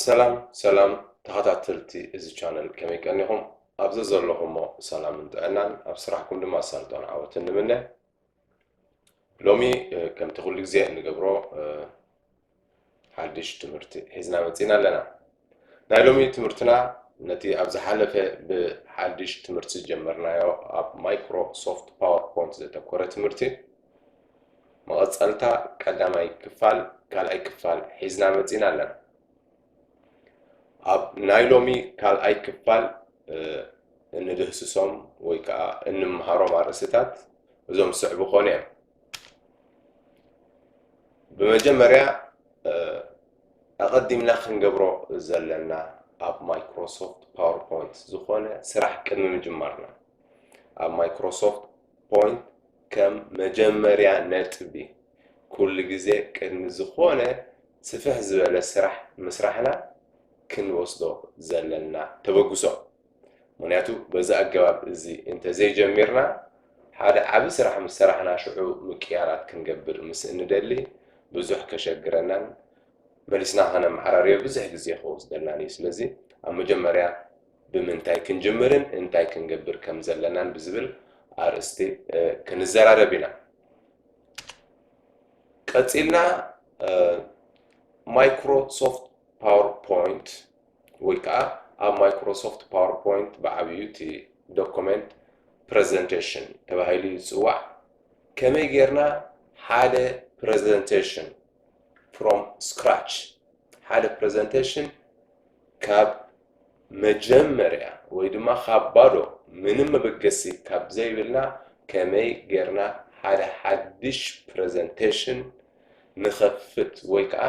ሰላም ሰላም ተኸታተልቲ እዚ ቻነል ከመይ ቀኒኹም ኣብ ዘዘለኹሞ ሰላምን ጥዕናን ኣብ ስራሕኩም ድማ ኣሳልጦን ዓወትን ንምነ ሎሚ ከምቲ ኩሉ ግዜ እንገብሮ ሓድሽ ትምህርቲ ሒዝና መፂና ኣለና ናይ ሎሚ ትምህርትና ነቲ ኣብ ዝሓለፈ ብሓድሽ ትምህርቲ ዝጀመርናዮ ኣብ ማይክሮሶፍት ፓወርፖይንት ዘተኮረ ትምህርቲ መቐጸልታ ቀዳማይ ክፋል ካልኣይ ክፋል ሒዝና መጺና ኣለና። ኣብ ናይ ሎሚ ካልኣይ ክፋል እንድህስሶም ወይ ከዓ እንምሃሮም ኣርእስታት እዞም ዝስዕቡ ኮነ እዮም። ብመጀመርያ ኣቐዲምና ክንገብሮ ዘለና ኣብ ማይክሮሶፍት ፓወርፖይንት ዝኾነ ስራሕ ቅድሚ ምጅማርና ኣብ ማይክሮሶፍት ፖይንት ከም መጀመርያ ነጥቢ ኩሉ ግዜ ቅድሚ ዝኾነ ስፍሕ ዝበለ ስራሕ ምስራሕና ክንወስዶ ዘለና ተበግሶ ምኽንያቱ በዚ ኣገባብ እዚ እንተዘይጀሚርና ሓደ ዓቢ ስራሕ ምስ ሰራሕና ሽዑ ምቅያራት ክንገብር ምስ እንደሊ ብዙሕ ከሸግረናን መሊስና ከነመዓራርዮ ብዙሕ ግዜ ክወስደልናን እዩ ስለዚ ኣብ መጀመርያ ብምንታይ ክንጅምርን እንታይ ክንገብር ከም ዘለናን ብዝብል ኣርእስቲ ክንዘራረብ ኢና። ቀጺልና ማይክሮሶፍት ፓወርፖይንት ወይ ከዓ ኣብ ማይክሮሶፍት ፓወርፖይንት ብዓብዩ እቲ ዶኩመንት ፕሬዘንቴሽን ተባሂሉ ይፅዋዕ ከመይ ጌርና ሓደ ፕሬዘንቴሽን ፍሮም ስክራች ሓደ ፕሬዘንቴሽን ካብ መጀመርያ ወይ ድማ ካብ ባዶ ምንም መበገሲ ካብ ዘይብልና ከመይ ጌርና ሓደ ሓድሽ ፕረዘንተሽን ንኸፍት ወይ ከኣ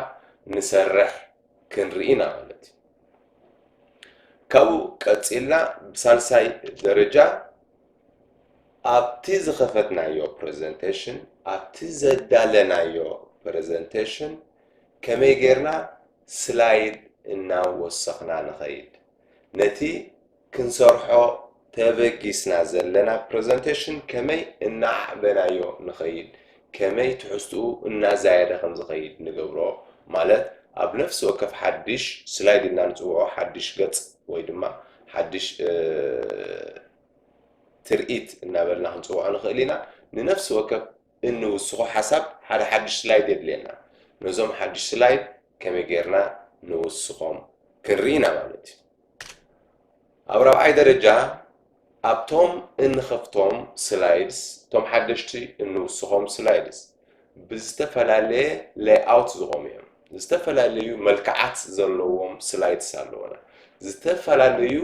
ንሰርሕ ክንርኢ ኢና ማለት እዩ። ካብኡ ቀጺልና ብሳልሳይ ደረጃ ኣብቲ ዝኸፈትናዮ ፕረዘንተሽን ኣብቲ ዘዳለናዮ ፕረዘንተሽን ከመይ ጌርና ስላይድ እና ወሰኽና ንኸይድ ነቲ ክንሰርሖ ተበጊስና ዘለና ፕረዘንተሽን ከመይ እናኣዕበናዮ ንኸይድ ከመይ ትሕዝትኡ እናዛየደ ከም ዝኸይድ ንገብሮ ማለት ኣብ ነፍሲ ወከፍ ሓድሽ ስላይድ እና ንጽውዖ ሓድሽ ገጽ ወይ ድማ ሓድሽ ትርኢት እናበልና ክንጽውዖ ንኽእል ኢና ንነፍሲ ወከፍ እንውስኾ ሓሳብ ሓደ ሓድሽ ስላይድ የድልየና። ነዞም ሓድሽ ስላይድ ከመይ ጌርና ንውስኾም ክንርኢ ኢና ማለት እዩ። ኣብ ራብዓይ ደረጃ ኣብቶም እንኸፍቶም ስላይድስ እቶም ሓደሽቲ እንውስኾም ስላይድስ ብዝተፈላለየ ሌይኣውት ዝኾኑ እዮም። ዝተፈላለዩ መልክዓት ዘለዎም ስላይድስ ኣለዉና። ዝተፈላለዩ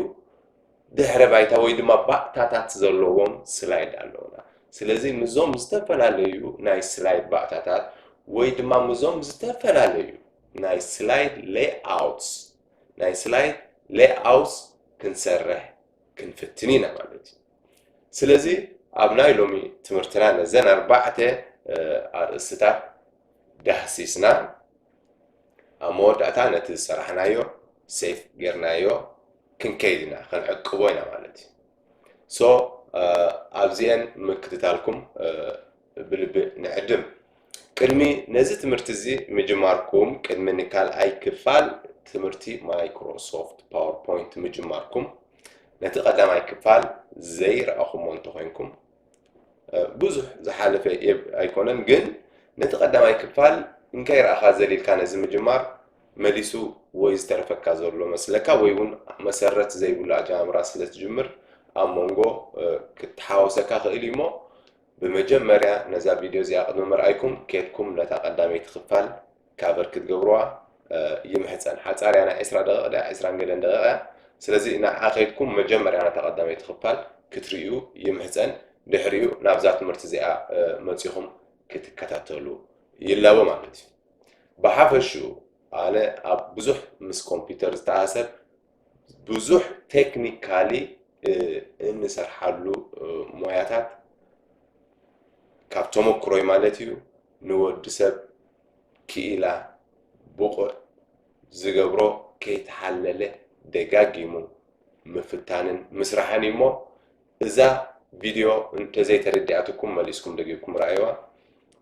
ድሕረ ባይታ ወይ ድማ ባእታታት ዘለዎም ስላይድ ኣለዉና። ስለዚ ምስዞም ዝተፈላለዩ ናይ ስላይድ ባእታታት ወይ ድማ ምስዞም ዝተፈላለዩ ናይ ስላይድ ሌይኣውትስ ናይ ስላይድ ሌይኣውትስ ክንሰርሕ ክንፍትን ኢና ማለት እዩ። ስለዚ ኣብ ናይ ሎሚ ትምህርትና ነዘን ኣርባዕተ ኣርእስትታት ዳህሲስና ኣብ መወዳእታ ነቲ ዝሰራሕናዮ ሴፍ ጌርናዮ ክንከይድ ኢና ክንዕቅቦ ኢና ማለት እዩ ሶ ኣብዚኤን ምክትታልኩም ብልቢ ንዕድም ቅድሚ ነዚ ትምህርቲ እዚ ምጅማርኩም ቅድሚ ንካልኣይ ክፋል ትምህርቲ ማይክሮሶፍት ፓወርፖይንት ምጅማርኩም ነቲ ቀዳማይ ክፋል ዘይረኣኹሞ እንተኾይንኩም ብዙሕ ዝሓለፈ ኤብ ኣይኮነን ግን ነቲ ቀዳማይ ክፋል እንካይ ረኣኻ ዘሊልካ ነዚ ምጅማር መሊሱ ወይ ዝተረፈካ ዘሎ መስለካ ወይ ውን መሰረት ዘይብሉ ኣጀማምራ ስለ ትጅምር ኣብ መንጎ ክትሓወሰካ ክእል እዩሞ ብመጀመርያ ነዛ ቪድዮ እዚኣ ቅድሚ ምርኣይኩም ኬድኩም ነታ ቀዳመይቲ ክፋል ካቨር ክትገብርዋ ይምሕጸን ሓጻር እያ ናይ ዕስራ ደቂቅ ድያ ዕስራን ገለን ደቂቅ እያ ስለዚ ንዓዓ ከይድኩም መጀመርያ ነታ ቀዳመይቲ ክፋል ክትርእዩ ይምሕጸን ድሕሪኡ ናብዛ ትምህርቲ እዚኣ መጺኹም ክትከታተሉ ይላቦ ማለት እዩ ብሓፈሽኡ ኣነ ኣብ ብዙሕ ምስ ኮምፒተር ዝተኣሳሰር ብዙሕ ቴክኒካሊ እንሰርሓሉ ሞያታት ካብ ተመክሮይ ማለት እዩ ንወዲ ሰብ ክኢላ ብቑዕ ዝገብሮ ከይተሓለለ ደጋጊሙ ምፍታንን ምስራሕን እዩ እሞ እዛ ቪድዮ እንተዘይተረዲኣትኩም መሊስኩም ደጊምኩም ረኣይዋ።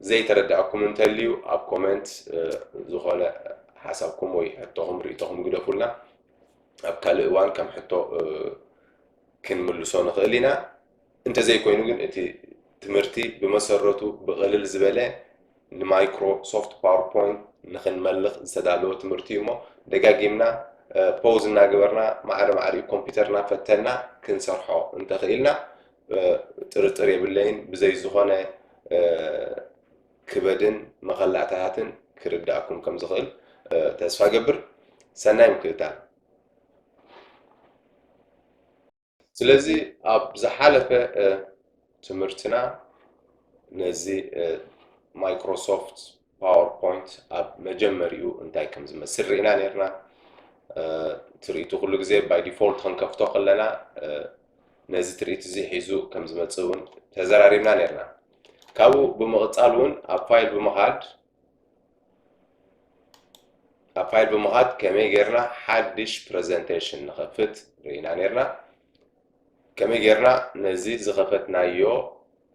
ዘይተረደኣኩም እንተልዩ ኣብ ኮመንት ዝኾነ ሓሳብኩም ወይ ሕቶኹም ርእይቶኹም ግደፉልና። ኣብ ካልእ እዋን ከም ሕቶ ክንምልሶ ንኽእል ኢና። እንተዘይኮይኑ ግን እቲ ትምህርቲ ብመሰረቱ ብቕልል ዝበለ ንማይክሮ ሶፍት ፓወርፖይንት ንኽንመልኽ ዝተዳለወ ትምህርቲ እዩሞ ደጋጊምና ፖውዝ እናገበርና ማዕረ ማዕሪኡ ኮምፒውተር እናፈተና ክንሰርሖ እንተኽኢልና ጥርጥር የብለይን ብዘይ ዝኾነ ክበድን መኸላእታታትን ክርዳእኩም ከም ዝኽእል ተስፋ ገብር ሰናይ ምክትታል ስለዚ ኣብ ዝሓለፈ ትምህርትና ነዚ ማይክሮሶፍት ፓወር ፖይንት ኣብ መጀመሪኡ እንታይ ከም ዝመስል ርኢና ነርና ትርኢቱ ኩሉ ግዜ ባይ ዲፎልት ክንከፍቶ ከለና ነዚ ትርኢት እዚ ሒዙ ከም ዝመፅእ እውን ተዘራሪብና ነርና ካብኡ ብምቕፃል እውን ኣብ ፋይል ብምኻድ ኣብ ፋይል ብምኻድ ከመይ ጌርና ሓድሽ ፕሬዘንቴሽን ንኸፍት ርኢና ኔርና ከመይ ጌርና ነዚ ዝኸፈትናዮ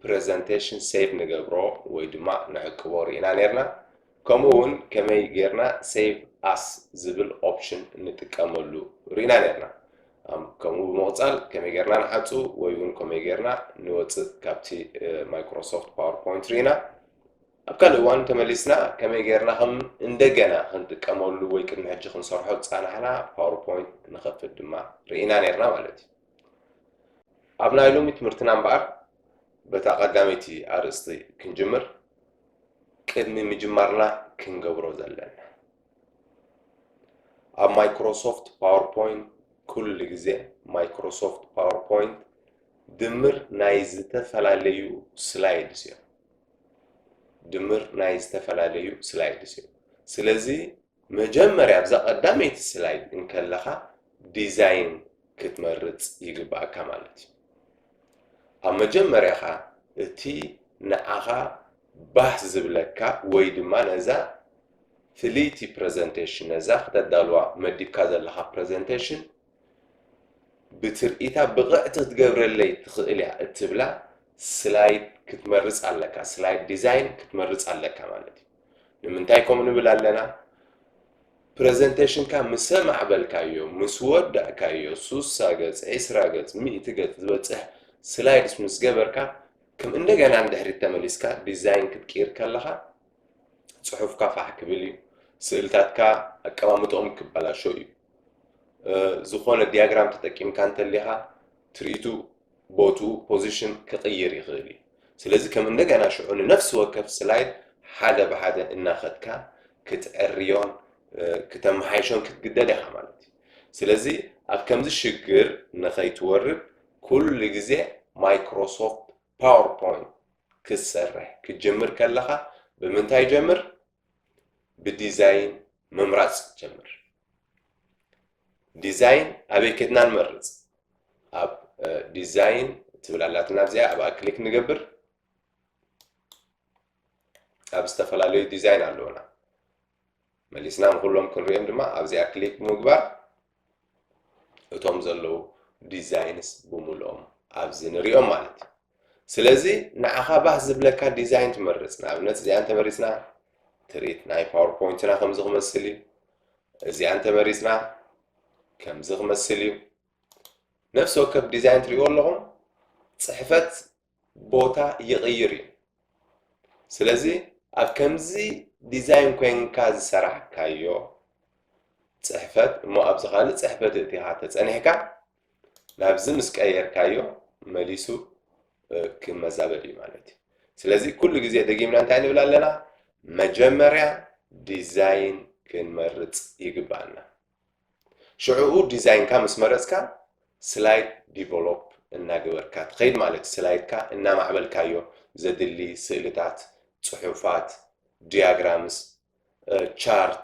ፕሬዘንቴሽን ሴቭ ንገብሮ ወይ ድማ ንዕቅቦ ርኢና ኔርና ከምኡ እውን ከመይ ጌርና ሴቭ ኣስ ዝብል ኦፕሽን ንጥቀመሉ ርኢና ኔርና ከምኡ ብምቕፃል ከመይ ጌርና ንሓፁ ወይ እውን ከመይ ጌርና ንወፅእ ካብቲ ማይክሮሶፍት ፓወርፖይንት ርኢና ኣብ ካልእ እዋን ተመሊስና ከመይ ጌርና ከም እንደገና ክንጥቀመሉ ወይ ቅድሚ ሕጂ ክንሰርሖ ዝጸናሕና ፓወርፖይንት ንኸፍት ድማ ርኢና ኔርና ማለት እዩ። ኣብ ናይ ሎሚ ትምህርትና እምበኣር በታ ቀዳመይቲ ኣርእስቲ ክንጅምር ቅድሚ ምጅማርና ክንገብሮ ዘለና ኣብ ማይክሮሶፍት ፓወርፖይንት ኩሉ ግዜ ማይክሮሶፍት ፓወርፖይንት ድምር ናይ ዝተፈላለዩ ስላይድስ እዮም። ድምር ናይ ዝተፈላለዩ ስላይድስ እዩ። ስለዚ መጀመርያ ኣብዛ ቀዳመይቲ ስላይድ እንከለኻ ዲዛይን ክትመርጽ ይግብኣካ ማለት እዩ። ኣብ መጀመርያኻ እቲ ንዓኻ ባህ ዝብለካ ወይ ድማ ነዛ ፍልይቲ ፕረዘንቴሽን ነዛ ክተዳልዋ መዲብካ ዘለኻ ፕረዘንቴሽን ብትርኢታ ብቕዕቲ ክትገብረለይ ትኽእል እያ እትብላ ስላይድ ክትመርጽ ኣለካ፣ ስላይድ ዲዛይን ክትመርጽ ኣለካ ማለት እዩ። ንምንታይ ከምኡ ንብል ኣለና? ፕረዘንተሽንካ ምስ ኣማዕበልካዮ፣ ምስ ወዳእካዮ፣ ሱሳ ገጽ፣ ዕስራ ገጽ፣ ሚእቲ ገጽ ዝበጽሕ ስላይድስ ምስ ገበርካ፣ ከም እንደገና ንድሕሪት ተመሊስካ ዲዛይን ክትቅይር ከለኻ ጽሑፍካ ፋሕ ክብል እዩ፣ ስእልታትካ ኣቀማምጥኦም ክበላሾ እዩ። ዝኾነ ዲያግራም ተጠቂምካ እንተሊኻ ትርኢቱ ቦትኡ ፖዚሽን ክቕይር ይኽእል እዩ ስለዚ ከም እንደገና ሽዑ ንነፍሲ ወከፍ ስላይድ ሓደ ብሓደ እናኸድካ ክትዕርዮን ክተመሓይሾን ክትግደድ ኢኻ ማለት እዩ ስለዚ ኣብ ከምዚ ሽግር ንኸይትወርድ ኩሉ ግዜ ማይክሮሶፍት ፓወርፖይንት ክትሰርሕ ክትጅምር ከለኻ ብምንታይ ጀምር ብዲዛይን ምምራፅ ጀምር። ዲዛይን ኣበይ ከድና ንመርፅ? ኣብ ዲዛይን ትብል ኣላትና ኣብዚኣ ኣብኣ ክሊክ ንገብር። ኣብ ዝተፈላለዩ ዲዛይን ኣለውና መሊስና ንኩሎም ክንሪኦም ድማ ኣብዚኣ ክሊክ ምግባር እቶም ዘለዉ ዲዛይንስ ብምልኦም ኣብዚ ንሪኦም ማለት እዩ ስለዚ ንዓኻ ባህ ዝብለካ ዲዛይን ትመርፅ ንኣብነት እዚኣ እንተመሪፅና ትርኢት ናይ ፓወርፖይንትና ከምዚ ክመስል እዩ እዚኣ እንተመሪፅና ከምዚ ክመስል እዩ ነፍሲ ወከፍ ዲዛይን ትሪእዎ ኣለኹም ፅሕፈት ቦታ ይቕይር እዩ። ስለዚ ኣብ ከምዚ ዲዛይን ኮይንካ ዝሰራሕካዮ ፅሕፈት እሞ ኣብዚ ካልእ ፅሕፈት እቲኻ ተፀኒሕካ ናብዚ ምስ ቀየርካዮ መሊሱ ክመዛበል እዩ ማለት እዩ። ስለዚ ኩሉ ግዜ ደጊምና እንታይ ንብል ኣለና? መጀመርያ ዲዛይን ክንመርፅ ይግባኣና። ሽዑኡ ዲዛይንካ ምስ መረጽካ ስላይድ ዲቨሎፕ እናገበርካ ትኸይድ ማለት እዩ። ስላይድካ እናማዕበልካዮ ዘድሊ ስእልታት፣ ጽሑፋት፣ ድያግራምስ፣ ቻርት፣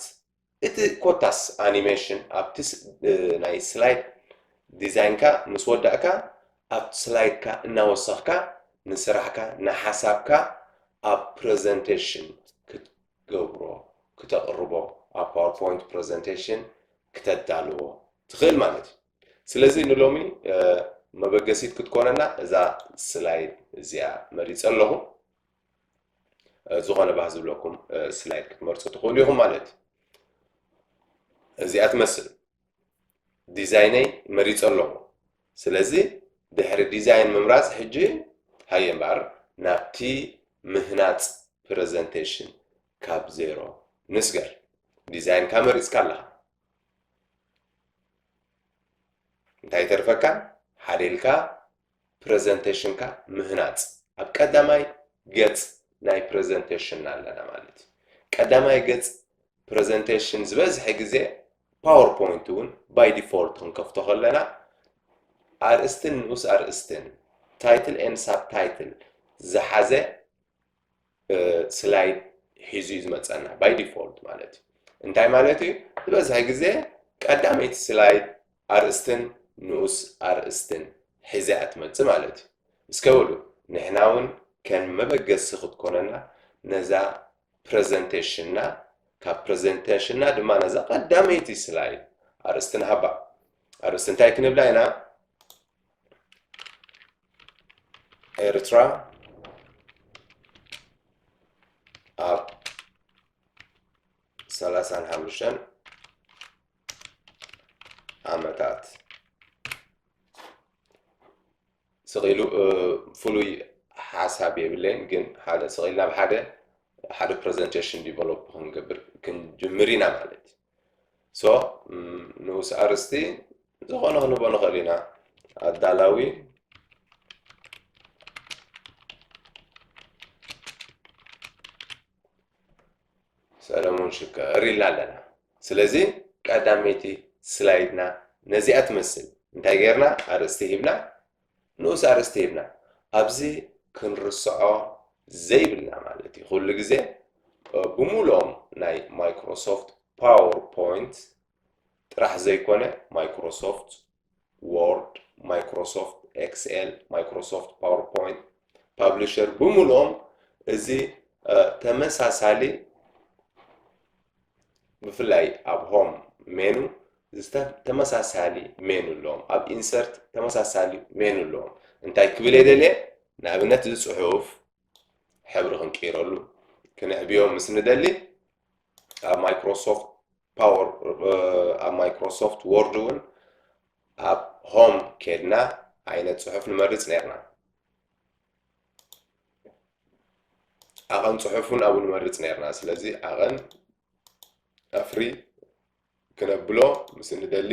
እቲ ኮታስ ኣኒሜሽን ኣብቲ ናይ ስላይድ ዲዛይንካ ምስ ወዳእካ ኣብ ስላይድካ እናወሰኽካ ንስራሕካ ንሓሳብካ ኣብ ፕረዘንተሽን ክትገብሮ፣ ክተቕርቦ፣ ኣብ ፓወርፖይንት ፕረዘንቴሽን ክተዳልዎ ትኽእል ማለት እዩ። ስለዚ ንሎሚ መበገሲት ክትኮነና እዛ ስላይድ እዚኣ መሪጸ ኣለኹ። ዝኾነ ባህ ዝብለኩም ስላይድ ክትመርጹ ትኽእሉ ኢኹም ማለት እዩ። እዚኣ ትመስል። ዲዛይነይ መሪጸ ኣለኹ ስለዚ ድሕሪ ዲዛይን ምምራጽ ሕጂ ሃየ እምበኣር ናብቲ ምህናጽ ፕረዘንተሽን ካብ ዜሮ ንስገር ዲዛይንካ መሪጽካ ኣለኻ እንታይ ተርፈካ ሓደ ኢልካ ፕረዘንተሽንካ ምህናጽ ኣብ ቀዳማይ ገጽ ናይ ፕረዘንተሽንና ኣለና ማለት እዩ። ቀዳማይ ገጽ ፕረዘንተሽን ዝበዝሐ ግዜ ፓወር ፖይንት እውን ባይ ዲፎልት ክንከፍቶ ከለና ኣርእስትን ንኡስ ኣርእስትን ታይትል ኤን ሳብ ታይትል ዝሓዘ ስላይድ ሒዙ እዩ ዝመፀና ባይ ዲፎልት ማለት እዩ እንታይ ማለት እዩ ዝበዝሐ ግዜ ቀዳመይቲ ስላይድ ኣርእስትን ንኡስ ኣርእስትን ሒዘ እያ ትመፅእ ማለት እዩ እስከበሉ ንሕና እውን ከም መበገሲ ክትኮነና ነዛ ፕሬዘንቴሽንና ካብ ፕሬዘንቴሽንና ድማ ነዛ ቀዳመይቲ ስላይድ ኣርእስትን ሃባ ኣርእስቲ እንታይ ክንብላ ኢና ኤርትራ ኣብ ሰላሳን ሓሙሽተን ዓመታት ስቂሉ ፍሉይ ሓሳብ የብለይን ግን ሓደ ስቂልና ብሓደ ሓደ ፕሬዘንቴሽን ዲቨሎፕ ክንገብር ክንጅምር ኢና ማለት እዩ So ንኡስ ኣርእስቲ ዝኾነ ክንቦ ንኽእል ኢና። ኣዳላዊ ሰለሙን ሽከር ኢልና ኣለና። ስለዚ ቀዳመይቲ ስላይድና ነዚኣ ትመስል እንታይ ጌርና ኣርእስቲ ሂብና ንኡስ ኣርእስቲ ሂብና ኣብዚ ክንርስዖ ዘይብልና ማለት እዩ ኩሉ ግዜ ብሙሉኦም ናይ ማይክሮሶፍት ፓወር ፖይንት ጥራሕ ዘይኮነ ማይክሮሶፍት ዎርድ ማይክሮሶፍት ኤክስኤል ማይክሮሶፍት ፓወር ፖይንት ፓብሊሸር ብሙሉኦም እዚ ተመሳሳሊ ብፍላይ ኣብ ሆም ሜኑ ተመሳሳሊ ሜኑ ኣለዎም ኣብ ኢንሰርት ተመሳሳሊ ሜኑ ኣለዎም እንታይ ክብል እየ ደልየ ንኣብነት እዚ ፅሑፍ ሕብሪ ክንቅይረሉ ክንዕብዮ ምስ ንደሊ ኣብ ማይክሮሶፍት ፓወር ኣብ ማይክሮሶፍት ወርድ እውን ኣብ ሆም ኬድና ዓይነት ፅሑፍ ንመርፅ ነርና ዓቐን ጽሑፍ እውን ኣብኡ ንመርጽ ነርና ስለዚ ዓቐን ኣፍሪ ክነብሎ ምስ እንደሊ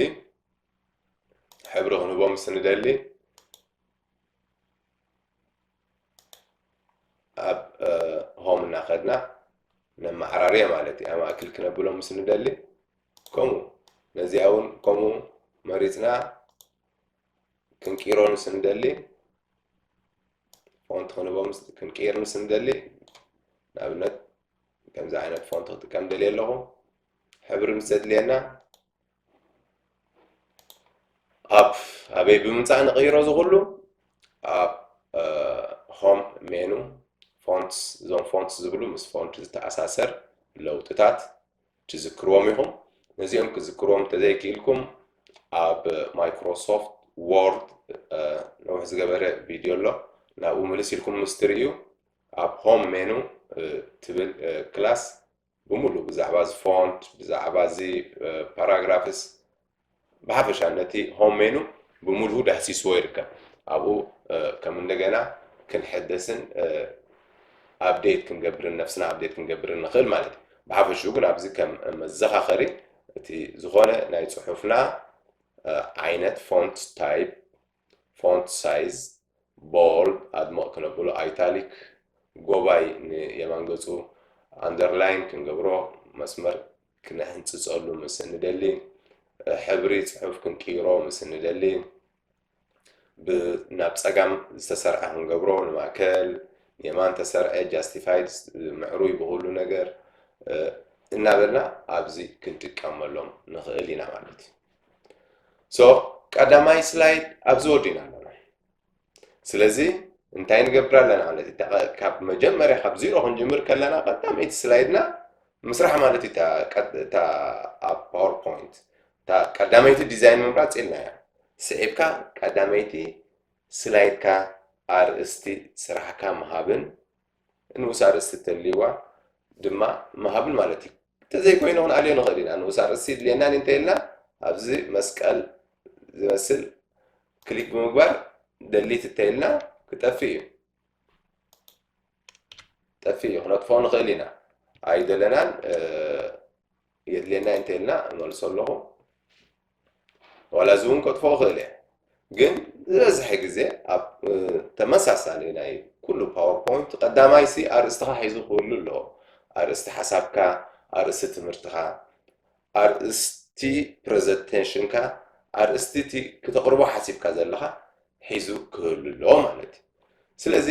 ሕብሪ ክንህቦ ምስ እንደሊ ኣብ ሆም እናኸድና ነመዓራርየ ማለት እዩ ኣማእክል ክነብሎ ምስ እንደሊ ከምኡ ነዚኣ እውን ከምኡ መሪፅና ክንቂሮ ምስ እንደሊ ፎንት ክንቦም ክንቅይር ምስ እንደሊ ንኣብነት ከምዚ ዓይነት ፎንት ክጥቀም ደልየ ኣለኹ ሕብሪ ምስ ዘድልየና ኣብ ኣበይ ብምምፃእ ንቕይሮ እዚ ኩሉ ኣብ ሆም ሜኑ ፎንትስ እዞም ፎንትስ ዝብሉ ምስ ፎንት ዝተኣሳሰር ለውጥታት ትዝክርዎም ኢኹም። ነዚኦም ክዝክርዎም እንተዘይክኢልኩም ኣብ ማይክሮሶፍት ዎርድ ነዊሕ ዝገበረ ቪድዮ ኣሎ ናብኡ ምልስ ኢልኩም ምስ ትርእዩ ኣብ ሆም ሜኑ ትብል ክላስ ብምሉእ ብዛዕባ እዚ ፎንት ብዛዕባ እዚ ፓራግራፍስ ብሓፈሻ ነቲ ሆም ሜኑ ብሙሉኡ ዳህሲስዎ ይርከብ። ኣብኡ ከም እንደገና ክንሕደስን ኣፕዴት ክንገብርን ነብስና ኣፕዴት ክንገብርን ንኽእል ማለት እዩ። ብሓፈሽኡ ግን ኣብዚ ከም መዘኻኸሪ እቲ ዝኾነ ናይ ጽሑፍና ዓይነት ፎንት ታይፕ ፎንት ሳይዝ፣ ቦልድ፣ ኣድምቕ ክነብሎ፣ ኣይታሊክ፣ ጎባይ ንየማን ገጹ፣ ኣንደርላይን ክንገብሮ፣ መስመር ክነሕንጽጸሉ ምስ እንደሊ፣ ሕብሪ ጽሑፍ ክንቅይሮ ምስ እንደሊ፣ ብ ናብ ጸጋም ዝተሰርዐ ክንገብሮ፣ ንማእከል፣ ንየማን ተሰርዐ፣ ጃስቲፋይድ፣ ምዕሩይ ብኹሉ ነገር፣ እናበልና ኣብዚ ክንጥቀመሎም ንኽእል ኢና ማለት እዩ። ሶ ቀዳማይ ስላይድ ኣብዚ ወዲእና ኣለና ስለዚ እንታይ ንገብር ኣለና ማለት እዩ ካብ መጀመርያ ካብ ዚሮ ክንጅምር ከለና ቀዳመይቲ ስላይድና ምስራሕ ማለት እዩ እታ ኣብ ፓወርፖይንት እታ ቀዳመይቲ ዲዛይን ምምራፅ ኢልና እያ ስዒብካ ቀዳመይቲ ስላይድካ ኣርእስቲ ስራሕካ ምሃብን ንኡስ ኣርእስቲ ተልይዋ ድማ ምሃብን ማለት እዩ። እንተዘይኮይኑ ክንኣልዮ ንኽእል ኢና። ንኡስ ኣርእስቲ ይድልየናን እዩ እንተይልና ኣብዚ መስቀል ዝመስል ክሊክ ብምግባር ደሊት እንተይልና ክጠፍእ እዩ። ጠፍእ እዩ ክነጥፎ ንኽእል ኢና። ኣይደለናን የድልየና እንተይልና እመልሶ ኣለኹ። ዋላ እዚውን ከጥፍኦ እኽእል እየ ግን ዝበዝሐ ግዜ ኣብ ተመሳሳሊ ናይ ኩሉ ፓወርፖይንት ቀዳማይሲ ኣርእስትኻ ሒዙ ክህሉ ኣለዎ ኣርእስቲ ሓሳብካ ኣርእስቲ ትምህርትኻ ኣርእስቲ ፕረዘንቴሽንካ ኣርእስቲ እቲ ክተቕርቦ ሓሲብካ ዘለኻ ሒዙ ክህሉ ኣለዎ ማለት እዩ ስለዚ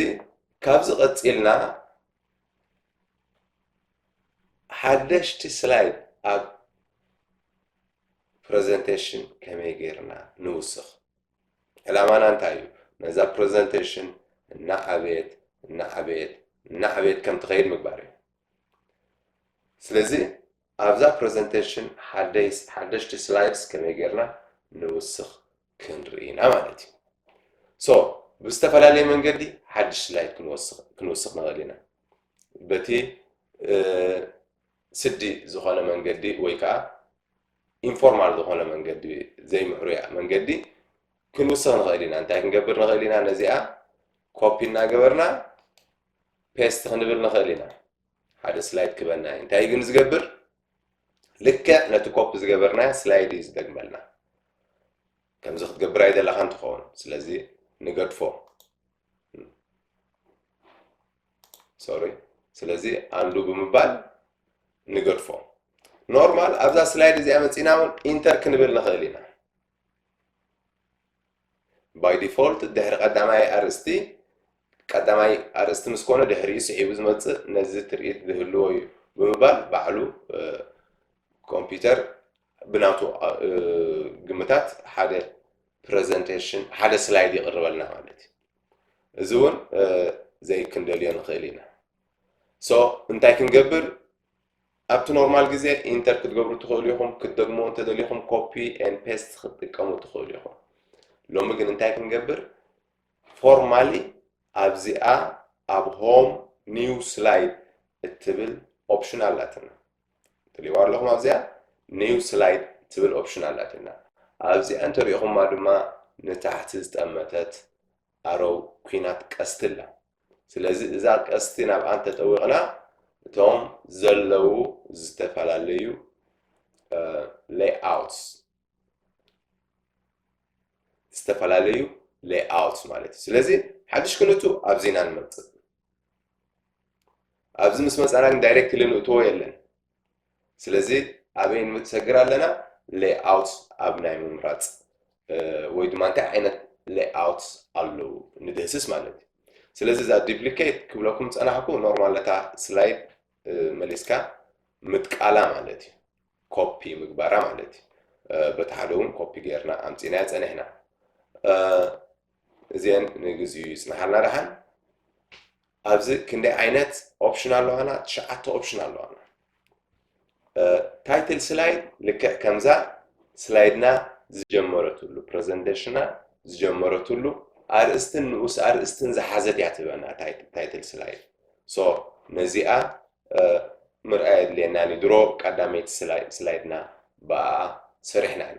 ካብዚ ቀፂልና ሓደሽቲ ስላይድ ኣብ ፕረዘንተሽን ከመይ ገይርና ንውስኽ? ዕላማና እንታይ እዩ? ነዛ ፕረዘንተሽን እናዓበየት እናዓበየት እናዓበየት ከም ትኸይድ ምግባር እዩ። ስለዚ ኣብዛ ፕረዘንተሽን ሓደሽቲ ስላይድስ ከመይ ገይርና ንውስኽ ክንርኢ ኢና ማለት እዩ። ሶ ብዝተፈላለየ መንገዲ ሓድሽ ስላይድ ክንውስኽ ንኽእል ኢና። በቲ ስዲ ዝኾነ መንገዲ ወይ ከኣ ኢንፎርማል ዝኾነ መንገዲ ዘይምዕሩያ መንገዲ ክንውስኽ ንኽእል ኢና። እንታይ ክንገብር ንኽእል ኢና? ነዚኣ ኮፒ እናገበርና ፔስት ክንብል ንኽእል ኢና። ሓደ ስላይድ ክበና እዩ። እንታይ ግን ዝገብር ልክዕ ነቲ ኮፒ ዝገበርናያ ስላይድ እዩ ዝደግመልና። ከምዚ ክትገብር ኣይደለኻን ትኸውን። ስለዚ ንገድፎ። ሶሪ ስለዚ ኣንዱ ብምባል ንገድፎ ኖርማል ኣብዛ ስላይድ እዚኣ መፂና እውን ኢንተር ክንብል ንኽእል ኢና ባይ ዲፎልት ድሕሪ ቀዳማይ ኣርእስቲ ቀዳማይ ኣርእስቲ ምስ ኮነ ድሕሪኡ ስዒቡ ዝመፅእ ነዚ ትርኢት ዝህልዎ እዩ ብምባል ባዕሉ ኮምፒውተር ብናቱ ግምታት ሓደ ፕረዘንቴሽን ሓደ ስላይድ ይቕርበልና ማለት እዩ እዚ እውን ዘይክንደልዮ ንኽእል ኢና ሶ እንታይ ክንገብር ኣብቲ ኖርማል ግዜ ኢንተር ክትገብሩ ትኽእሉ ኢኹም ክትደግሞ እንተደሊኹም ኮፒ ን ፔስት ክትጥቀሙ ትኽእሉ ኢኹም ሎሚ ግን እንታይ ክንገብር ፎርማሊ ኣብዚኣ ኣብ ሆም ኒው ስላይድ እትብል ኦፕሽን ኣላትና ትሪእዋ ኣለኹም ኣብዚኣ ኒው ስላይድ ትብል ኦፕሽን ኣላትና ኣብዚኣ እንተሪእኹማ ድማ ንታሕቲ ዝጠመተት ኣሮው ኩናት ቀስቲ ኣላ ስለዚ እዛ ቀስቲ ናብኣ እንተጠዊቕና እቶም ዘለዉ ዝተፈላለዩ ሌይኣውትስ ዝተፈላለዩ ሌይኣውትስ ማለት እዩ ስለዚ ሓድሽ ክንቱ ኣብዚና ንመፅእ ኣብዚ ምስ መጻና ግን ዳይሬክትሊ ንእትዎ የለን ስለዚ ኣበይ ንሰግር ኣለና ሌይኣውት ኣብ ናይ ምምራፅ ወይ ድማ እንታይ ዓይነት ሌይኣውት ኣለዉ ንድህስስ ማለት እዩ ስለዚ እዛ ዲፕሊኬት ክብለኩም ፀናሕኩ ኖርማል ነታ ስላይድ መሊስካ ምጥቃላ ማለት እዩ ኮፒ ምግባራ ማለት እዩ በቲ ሓደ እውን ኮፒ ገይርና ኣምፂናያ ፀኒሕና እዚኤን ንግዚኡ ይጽናሓልና ደሓን። ኣብዚ ክንደይ ዓይነት ኦፕሽን ኣለዋና? ትሽዓተ ኦፕሽን ኣለዋና። ታይትል ስላይድ ልክዕ ከምዛ ስላይድና ዝጀመረትሉ ፕረዘንቴሽና ዝጀመረትሉ ኣርእስትን ንኡስ ኣርእስትን ዝሓዘት እያ ትበና ታይትል ስላይድ ሶ ነዚኣ ምርኣይ ኣድልየና ድሮ ቀዳመይቲ ስላይድና ብኣ ሰሪሕና ኢና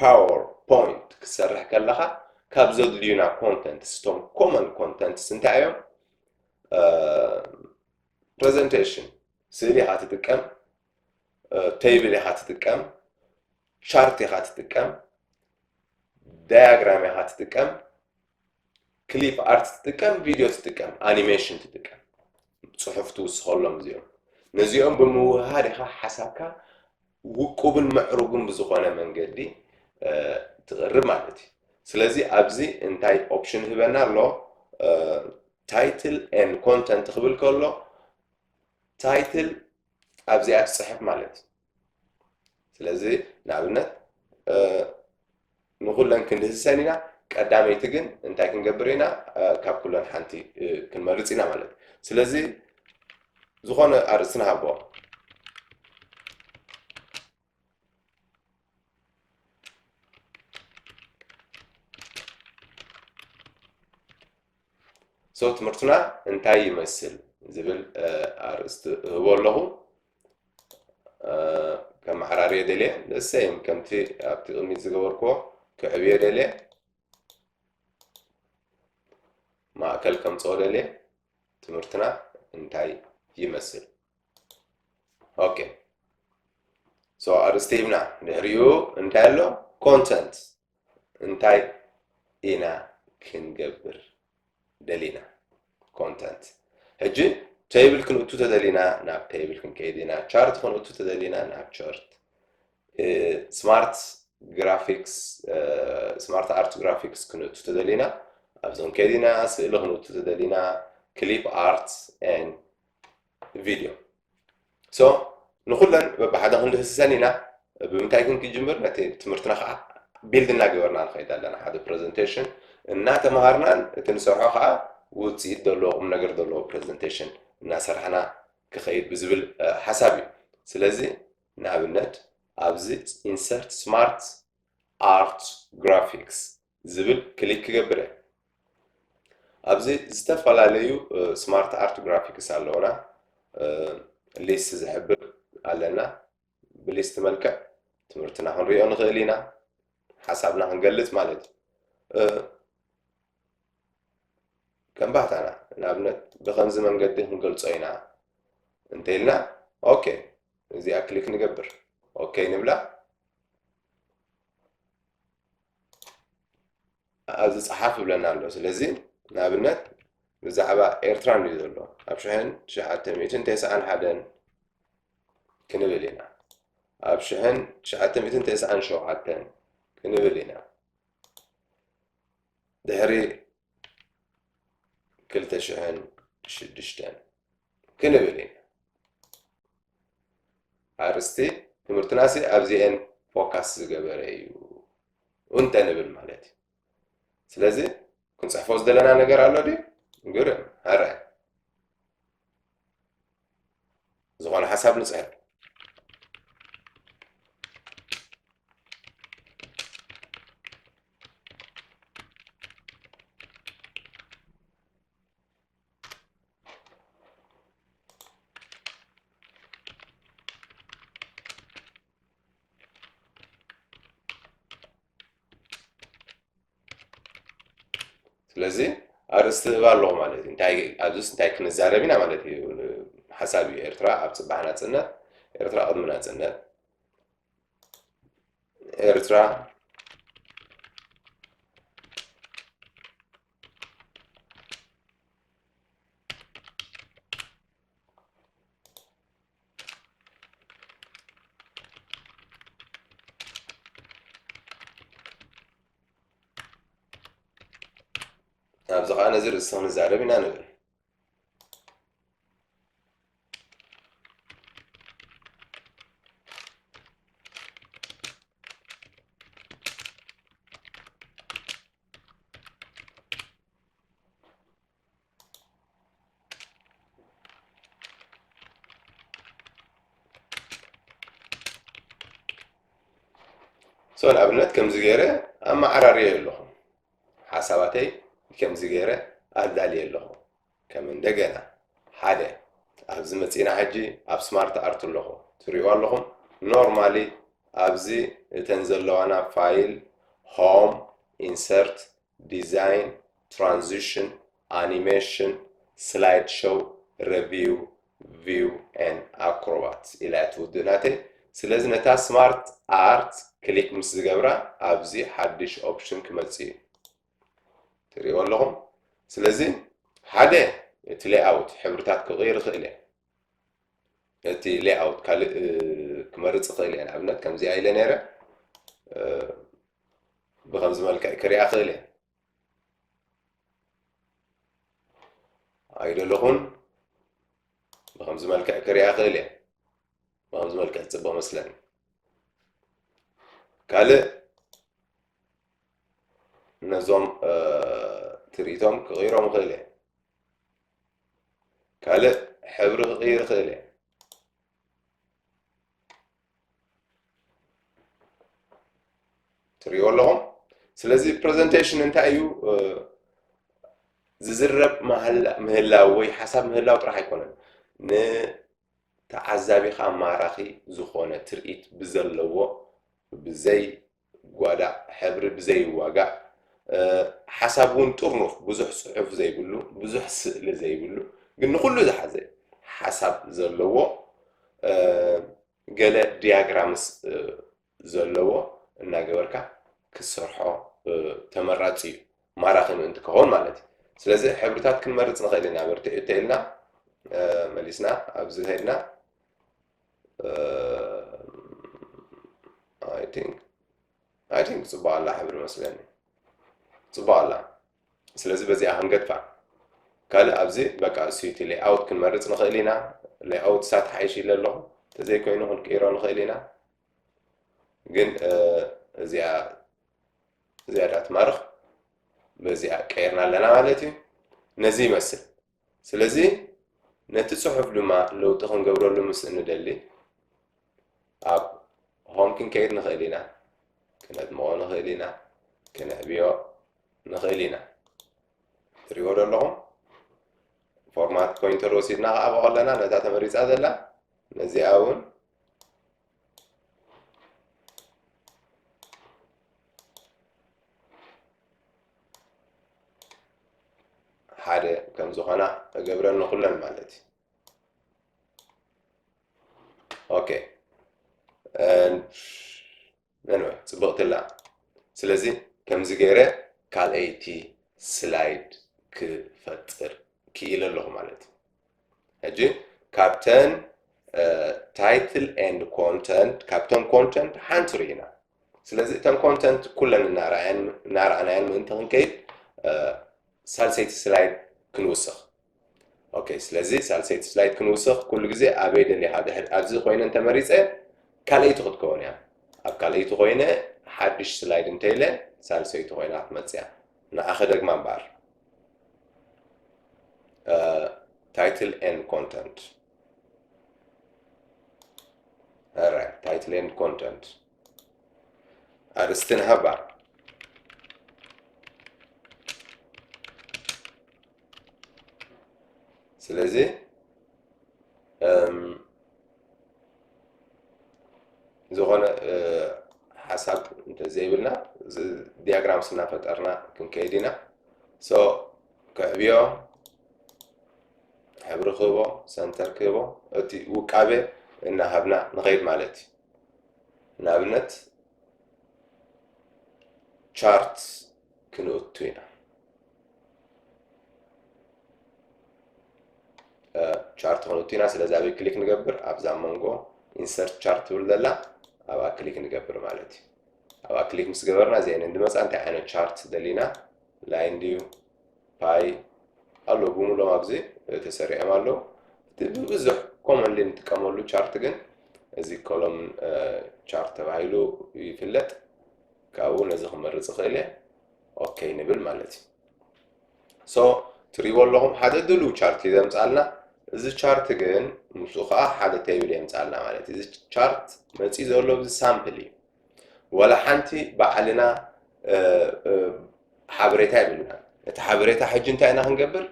ፓወር ፖይንት ክትሰርሕ ከለኻ ካብ ዘድልዩና ኮንተንትስ እቶም ኮመን ኮንተንትስ እንታይ እዮም? ፕሬዘንቴሽን ስእሊ ኢኻ ትጥቀም፣ ቴብል ኢኻ ትጥቀም፣ ቻርት ኢኻ ትጥቀም፣ ዳያግራም ኢኻ ትጥቀም፣ ክሊፕ ኣርት ትጥቀም፣ ቪድዮ ትጥቀም፣ ኣኒሜሽን ትጥቀም ፅሑፍ ትውስኸሎም እዚኦም ነዚኦም ብምውህሃድ ኢኻ ሓሳብካ ውቁብን ምዕሩግን ብዝኾነ መንገዲ ትቕርብ ማለት እዩ ስለዚ ኣብዚ እንታይ ኦፕሽን ህበና ኣሎ ታይትል ን ኮንተንት ክብል ከሎ ታይትል ኣብዚኣ ትፅሕፍ ማለት እዩ ስለዚ ንኣብነት ንኹለን ክንህሰን ኢና ቀዳመይቲ ግን እንታይ ክንገብር ኢና ካብ ኩለን ሓንቲ ክንመርፅ ኢና ማለት ስለዚ ዝኾነ ኣርእስቲ ንሃቦ ሰው ትምህርትና እንታይ ይመስል ዝብል ኣርእስቲ እህቦ ኣለኹ ከመዓራርዮ ደልየ ንእሰይም ከምቲ ኣብቲ ቅድሚት ዝገበርክዎ ክዕብዮ ደልየ ማእከል ከምፅኦ ደልየ ትምህርትና እንታይ ይመስል ኦኬ ሶ ኣርእስቲ ሂብና ድሕሪኡ እንታይ ኣሎ ኮንተንት እንታይ ኢና ክንገብር ደሊና ኮንተንት ሕጂ ቴብል ክንእቱ ተደሊና ናብ ቴብል ክንከይድ ኢና ቻርት ክንእቱ ተደሊና ናብ ቻርት ስማርት ግራፊክስ ስማርት ኣርት ግራፊክስ ክንእቱ ተደሊና ኣብዞም ከዲና ስእሊ ክንእቱ ተደሊና ክሊፕ ኣርት ን ቪድዮ ሶ ንኹለን በብሓደ ክንድህስሰን ኢና ብምንታይ ግን ክጅምር ነቲ ትምህርትና ከዓ ቢልድ እናገበርና ንኸይድ ኣለና ሓደ ፕሬዘንቴሽን እናተምሃርናን እቲ ንሰርሖ ከዓ ውፅኢት ዘለዎ ቁም ነገር ዘለዎ ፕሬዘንቴሽን እናሰርሕና ክኸይድ ብዝብል ሓሳብ እዩ ስለዚ ንኣብነት ኣብዚ ኢንሰርት ስማርት ኣርት ግራፊክስ ዝብል ክሊክ ክገብር እየ። ኣብዚ ዝተፈላለዩ ስማርት ኣርት ግራፊክስ ኣለውና ሊስት ዝሕብር ኣለና ብሊስት መልክዕ ትምህርትና ክንሪኦ ንኽእል ኢና ሓሳብና ክንገልጽ ማለት እዩ ከም ባህታና ንኣብነት ብከምዚ መንገዲ ክንገልጾ ኢና እንተኢልና ኦኬ እዚኣ ክሊክ ንገብር ኦኬ ንብላ ኣብዚ ጸሓፍ ይብለና ኣሎ ስለዚ ንኣብነት ብዛዕባ ኤርትራ ንዩ ዘሎ ኣብ ሽሕን ትሽዓተ ሚእትን ተስዓን ሓደን ክንብል ኢና ኣብ ሽሕን ትሽዓተ ሚእትን ተስዓን ሸውዓተን ክንብል ኢና ድሕሪ ክልተ ሽሕን ሽዱሽተን ክንብል ኢና ኣርስቲ ትምህርትና ሲ ኣብዚኤን ፎካስ ዝገበረ እዩ እንተ ንብል ማለት እዩ ስለዚ ክንፅሕፎ ዝደለና ነገር ኣሎ ድዩ ግርም ሃራይ ዝኾነ ሓሳብ ንፅሕፍ ስለዚ ኣርእስቲ ህባ ኣለኹ ማለት እዩ እንታይ ኣብዚስ እንታይ ክንዛረብ ኢና ማለት እዩ ሓሳብ እዩ ኤርትራ ኣብ ፅባሕ ናፅነት ኤርትራ ቅድሚ ናፅነት ኤርትራ ኣብዚ ከዓ ነዚ ርእስኻ ንዛረብ ኢና ንብል ሰው ኣብነት ከምዚ ገይረ ኣመዓራርየ ኣለኹ ሓሳባተይ ከምዚ ገይረ ኣላልየ ኣለኹ። ከም እንደገና ሓደ ኣብዚ መጺእና ሕጂ ኣብ ስማርት ኣርት ኣለኹ ትሪእዎ ኣለኹም ኖርማሊ ኣብዚ እተን ዘለዋና ፋይል፣ ሆም፣ ኢንሰርት፣ ዲዛይን፣ ትራንዚሽን፣ ኣኒሜሽን፣ ስላይድ ሸው፣ ረቪው፣ ቪው ኤንድ ኣክሮባት ኢላ እያ ትውድእ ናተይ። ስለዚ ነታ ስማርት ኣርት ክሊክ ምስ ዝገብራ ኣብዚ ሓድሽ ኦፕሽን ክመጽእ እዩ። ትርእይዎ ኣለኹም። ስለዚ ሓደ እቲ ሌይኣውት ሕብርታት ክቕይር ይኽእል እየ። እቲ ሌይኣውት ካልእ ክመርጽ ይኽእል እየ። ንኣብነት ከምዚኣ ኢለ ነይረ ብከምዚ መልክዕ ክሪኣ ክእል እየ። ኣይደለኹን ብከምዚ መልክዕ ክሪኣ ክእል እየ ብከምዚ መልክዕ ፅቡቅ መስለኒ ካልእ ነዞም ትርኢቶም ክቕይሮም ይኽእል እየ ካልእ ሕብሪ ክቕይር ይኽእል እየ ትሪኦ ኣለኹም ስለዚ ፕሬዘንቴሽን እንታይ እዩ ዝዝረብ ምህላው ወይ ሓሳብ ምህላው ጥራሕ ኣይኮነን ንተዓዛቢኻ ማራኺ ዝኾነ ትርኢት ብዘለዎ ብዘይ ጓዳዕ ሕብሪ ብዘይዋጋእ ሓሳብ ውን ጥርኑፍ ብዙሕ ጽሑፍ ዘይብሉ ብዙሕ ስእሊ ዘይብሉ ግን ንኹሉ ዝሓዘ ሓሳብ ዘለዎ ገለ ዲያግራምስ ዘለዎ እናገበርካ ክትሰርሖ ተመራጺ እዩ ማራኺ ምእንቲ ክኸውን ማለት እዩ ስለዚ ሕብርታት ክንመርጽ ንኽእል ኢና በርትዕ እተኢልና መሊስና ኣብዚ ከድና ኣይ ቲንክ ኣይ ቲንክ ጽቡቅ ኣላ ሕብሪ መስለኒ ጽቡቅ ኣላ ስለዚ በዚኣ ክንገድፋ ካልእ ኣብዚ በቃ እሱ እቲ ሌኣውት ክንመርጽ ንኽእል ኢና ሌኣውት ሳት ሓይሽ ኢለ ኣለኹ ተዘይኮይኑ ክንቅይሮ ንኽእል ኢና ግን እዚኣ ዝያዳ ትማርኽ በዚኣ ቀይርና ኣለና ማለት እዩ ነዚ ይመስል ስለዚ ነቲ ጽሑፍ ድማ ለውጢ ክንገብረሉ ምስ እንደሊ ኣብ ሆም ክንከይድ ንኽእል ኢና፣ ክነድምቖ ንኽእል ኢና፣ ክነዕብዮ ንኽእል ኢና። ትሪእዎ ዶ ኣለኹም? ፎርማት ፖይንተር ወሲድና ከዓቦ ከለና ነታ ተመሪጻ ዘላ ነዚኣ እውን ሓደ ከም ዝኾና እገብረን ንኹለን ማለት እዩ ኦኬ ነንወ ፅብቕትላ ስለዚ ከምዚ ገይረ ካልኣይቲ ስላይድ ክፈጥር ክኢለ ኣለኹ ማለት እዩ ሕጂ ካብተን ታይትል ኤንድ ኮንተንት ካብተን ኮንተንት ሓንቲ ርኢና ስለዚ እተን ኮንተንት ኩለን እናረኣናየን ምእንቲ ክንከይድ ሳልሰይቲ ስላይድ ክንውስኽ ኦኬ ስለዚ ሳልሰይቲ ስላይድ ክንውስኽ ኩሉ ግዜ ኣበይ ደሊኻ ድሕር ኣብዚ ኮይነ እንተመሪፀ ካልኣይቲ ክትከውን እያ ኣብ ካልኣይቲ ኮይነ ሓድሽ ስላይድ እንተኢለ ሳልሰይቲ ኮይና ክትመፅእ እያ ንዓ ክደግማ እምበኣር ታይትል ኤንድ ኮንተንት ራ ታይትል ኤንድ ኮንተንት ኣርእስቲ ንሃባ ስለዚ ዝኾነ ሓሳብ ዘይብልና ዲያግራም ስናፈጠርና ክንከይድ ኢና ሶ ክዕብዮ ሕብሪ ክህቦ ሰንተር ክህቦ እቲ ውቃበ እናሃብና ንኸይድ ማለት እዩ ንኣብነት ቻርት ክንእቱ ኢና ቻርት ክንውቲ ኢና ስለዚ ኣበይ ክሊክ ንገብር ኣብዛ መንጎ ኢንሰርት ቻርት ትብል ዘላ ኣብኣ ክሊክ ንገብር ማለት እዩ ኣብኣ ክሊክ ምስ ገበርና እዚአን እንድመፃ እንታይ ዓይነት ቻርት ደሊና ላይን ድዩ ፓይ ኣለዉ ብምሎም ኣብዚ ተሰሪዖም ኣለዉ እቲ ብብዙሕ ኮመንሊ ንጥቀመሉ ቻርት ግን እዚ ኮሎም ቻርት ተባሂሉ ይፍለጥ ካብኡ ነዚ ክመርፅ ይኽእል እየ ኦኬ ንብል ማለት እዩ ሶ ትሪእዎ ኣለኹም ሓደ ድልው ቻርት እዩ ዘምፃልና እዚ ቻርት ግን ምስኡ ከዓ ሓደ ቴብል የምፃልና ማለት እዩ እዚ ቻርት መፂ ዘሎ እዚ ሳምፕል እዩ ወላ ሓንቲ ባዕልና ሓበሬታ የብልናን እቲ ሓበሬታ ሕጂ እንታይ ኢና ክንገብር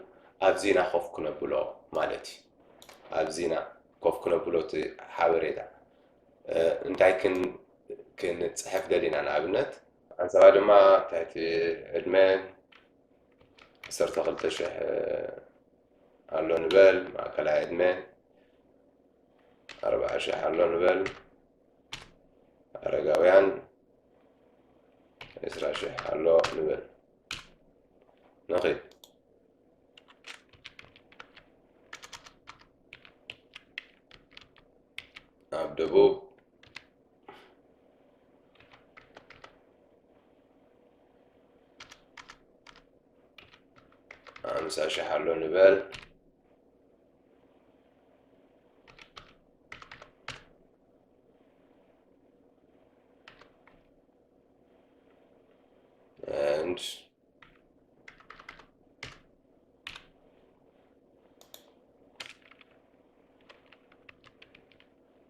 ኣብዚና ኮፍ ክነብሎ ማለት እዩ ኣብዚና ኮፍ ክነብሎ እቲ ሓበሬታ እንታይ ክንፅሕፍ ደሊና ንኣብነት ዓንሰባ ድማ ኣብ ትሕቲ ዕድመ ዓሰርተ ክልተ ሽሕ ኣሎ ንበል፣ ማእከላይ ዕድመ ኣርብዓ ሽሕ ኣሎ ንበል፣ ኣረጋውያን ዕስራ ሽሕ ኣሎ ንበል። ንኺድ ኣብ ደቡብ ሓምሳ ሽሕ ኣሎ ንበል and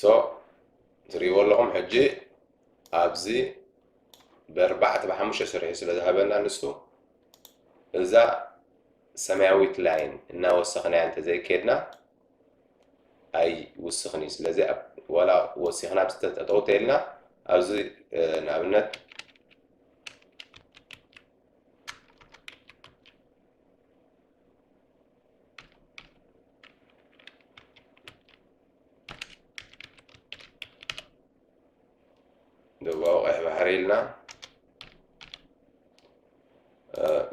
ሶ ትሪእዎ ኣለኹም ሕጂ ኣብዚ ብኣርባዕተ ብሓሙሽተ ስርሑ ስለ ዝሃበና ንሱ እዛ ሰማያዊት ላይን እናወሰኽናያ እንተዘይኬድና ኣይውስኽን እዩ ስለዚ ዋላ ወሲኽና ብዝተጠጠው ተይልና ኣብዚ ንኣብነት ደቡባዊ ቀይሕ ባሕሪ ኢልና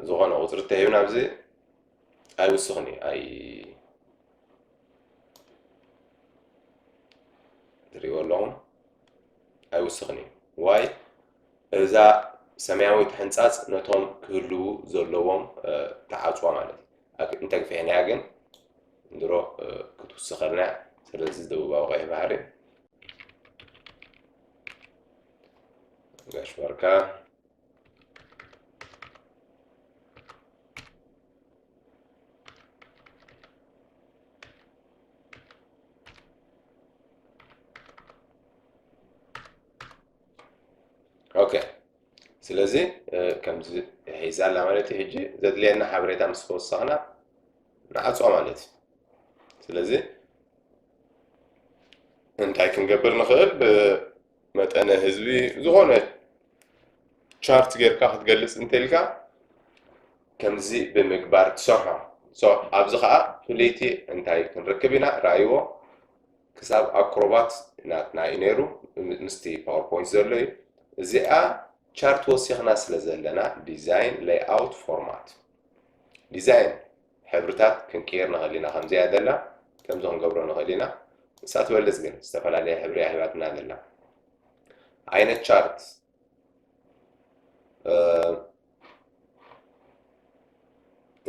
ዝኾነ ቁፅሪ ተሂብና ኣብዚ ኣይውስኽን እዩ ኣይ ትሪእዎ ኣለኹም ኣይውስኽን እዩ ዋይ እዛ ሰማያዊት ሕንጻጽ ነቶም ክህልዉ ዘለዎም ትዓጽዋ ማለት እዩ። ኣክ እንተ ግፊሕናያ ግን ድሮ ክትውስኸልና እያ። ስለዚ ደቡባዊ ቀይሕ ባሕሪ ጋሽ ባርካ ኦከ ስለዚ ከምዚ ሒዛ ኣላ ማለት እዩ ሕጂ ዘድልየና ሓበሬታ ምስ ተወሰኽና ንዓፆ ማለት እዩ ስለዚ እንታይ ክንገብር ንኽእል ብመጠነ ህዝቢ ዝኾነ ቻርት ጌርካ ክትገልፅ እንተልካ ከምዚ ብምግባር ትሰርሖ ኣብዚ ከዓ ፍልይቲ እንታይ ክንርክብ ኢና ርኣይዎ ክሳብ ኣክሮባት ናትና እዩ ነይሩ ምስቲ ፓወር ፖይንት ዘሎ እዩ እዚኣ ቻርት ወሲኽና ስለ ዘለና ዲዛይን ሌይኣውት ፎርማት ዲዛይን ሕብርታት ክንቅይር ንኽእል ኢና ከምዚኣ ዘላ ከምዚ ክንገብሮ ንኽእል ኢና ንሳ ትበልፅ ግን ዝተፈላለየ ሕብሪ ሂባትና ዘላ ዓይነት ቻርት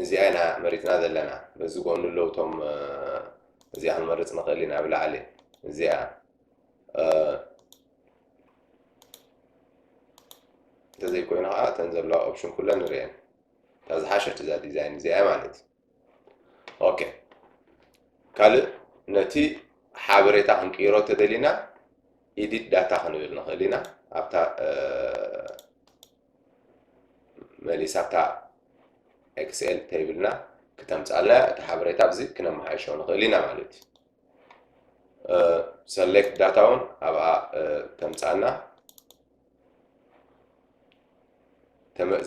እዚኣ ኢና መሪፅና ዘለና በዚ ጎኑ ኣለዉ እቶም እዚኣ ክንመርፅ ንኽእል ኢና ኣብ ላዕሊ እዚኣ እንተዘይኮይኑ ከዓ እተን ዘለዋ ኦፕሽን ኩለን ንሪአን እታ ዝሓሸት እዛ ዲዛይን እዚኣ ማለት እዩ ኦኬ ካልእ ነቲ ሓበሬታ ክንቅይሮ ተደሊና ኢዲት ዳታ ክንብል ንኽእል ኢና ኣብታ መሊሳ ኣብታ ኤክስኤል ተይብልና ክተምፃልና እቲ ሓበሬታ ኣብዚ ክነመሓይሾ ንኽእል ኢና ማለት እዩ ሰሌክት ዳታ እውን ኣብኣ ተምፃና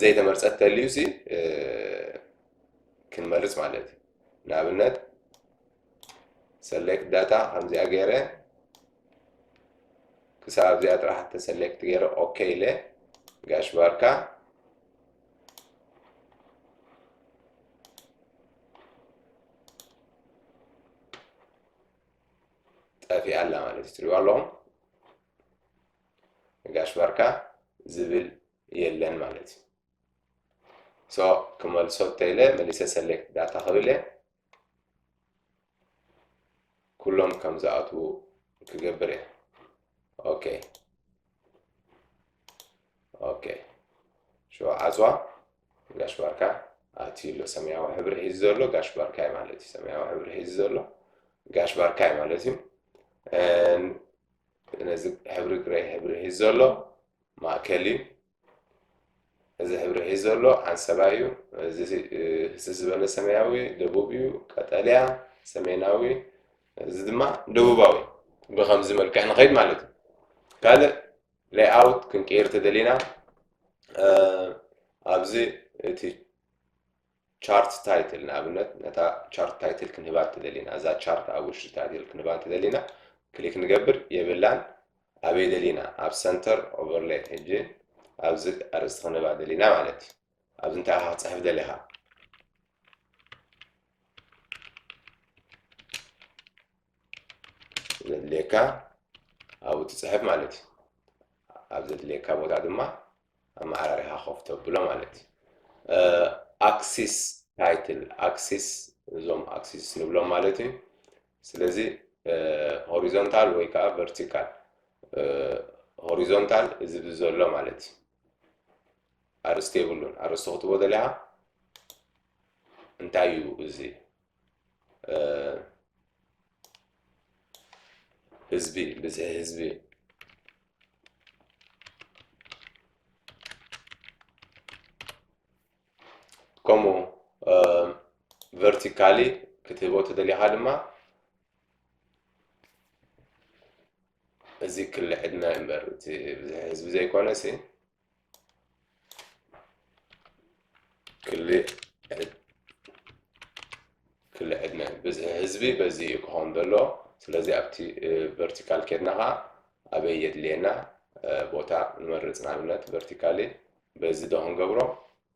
ዘይተመርፀት ተልዩ ሲ ክንመርጽ ማለት እዩ። ንኣብነት ሰሌክት ዳታ ከምዚኣ ገይረ ክሳብ ኣብዚኣ ጥራሕ ተሰሌክት ገይረ ኦኬ ኢለ ጋሽ ባርካ ጠፊኣ ኣላ ማለት እዩ ትሪእዋ ኣለኹም ጋሽ ባርካ ዝብል የለን ማለት እዩ So ክመልሶ እንተኢለ መሊሰ ሰሌክት ዳታ ክብለ ኩሎም ከም ዝኣትዉ ክገብር እየ ኦኬ ኦኬ ሽዑ ዓፅዋ ጋሽ ባርካ ኣትዩ ኣሎ ሰማያዊ ሕብሪ ሒዙ ዘሎ ጋሽ ባርካ እዩ ማለት እዩ ሰማያዊ ሕብሪ ሒዙ ዘሎ ጋሽ ባርካ እዩ ማለት እዩ ነዚ ሕብሪ ግረይ ሕብሪ ሒዙ ዘሎ ማእከል እዩ እዚ ሕብሪ ሒዝ ዘሎ ዓንሰባ እዩ። እዚ ህስስ ዝበለ ሰማያዊ ደቡብ እዩ፣ ቀጠልያ ሰሜናዊ፣ እዚ ድማ ደቡባዊ። ብኸምዚ መልክዕ ንኸይድ ማለት እዩ። ካልእ ሌይኣውት ክንቅይር ተደሊና ኣብዚ እቲ ቻርት ታይትል ንኣብነት ነታ ቻርት ታይትል ክንህባ እንተደሊና እዛ ቻርት ኣብ ውሽጢ ታይትል ክንህባ እንተደሊና ክሊክ ንገብር የብላን ኣበይ ደሊና ኣብ ሰንተር ኦቨርሌይ ሕጂ ኣብዚ ኣርእስቲ ክንህባ ደሊና ማለት እዩ ኣብዚ እንታይ ኢኻ ክፅሕፍ ደሊኻ ዘድልየካ ኣብኡ ትፅሕፍ ማለት እዩ ኣብ ዘድልየካ ቦታ ድማ ኣመዓራሪኻ ኮፍ ተብሎ ማለት እዩ። ኣክሲስ ታይትል ኣክሲስ እዞም ኣክሲስ ንብሎም ማለት እዩ። ስለዚ ሆሪዞንታል ወይ ከዓ ቨርቲካል ሆሪዞንታል እዚ ብዘሎ ማለት እዩ ኣርስቲ የብሉን ኣርስቲ ክትቦ ደሊኻ እንታይ እዩ እዚ ህዝቢ ብዝሒ ህዝቢ ከምኡ ቨርቲካሊ ክትህቦ ተደሊኻ ድማ እዚ ክሊ ዕድመ እምበር እቲ ብዝሒ ህዝቢ ዘይኮነ ሲ ብዝሒ ህዝቢ በዚ እዩ ክኸውን ዘሎ ስለዚ ኣብቲ ቨርቲካል ኬድና ከዓ ኣበይ የድልየና ቦታ ንመርፅ ንኣብነት ቨርቲካሊ በዚ ዶ ክንገብሮ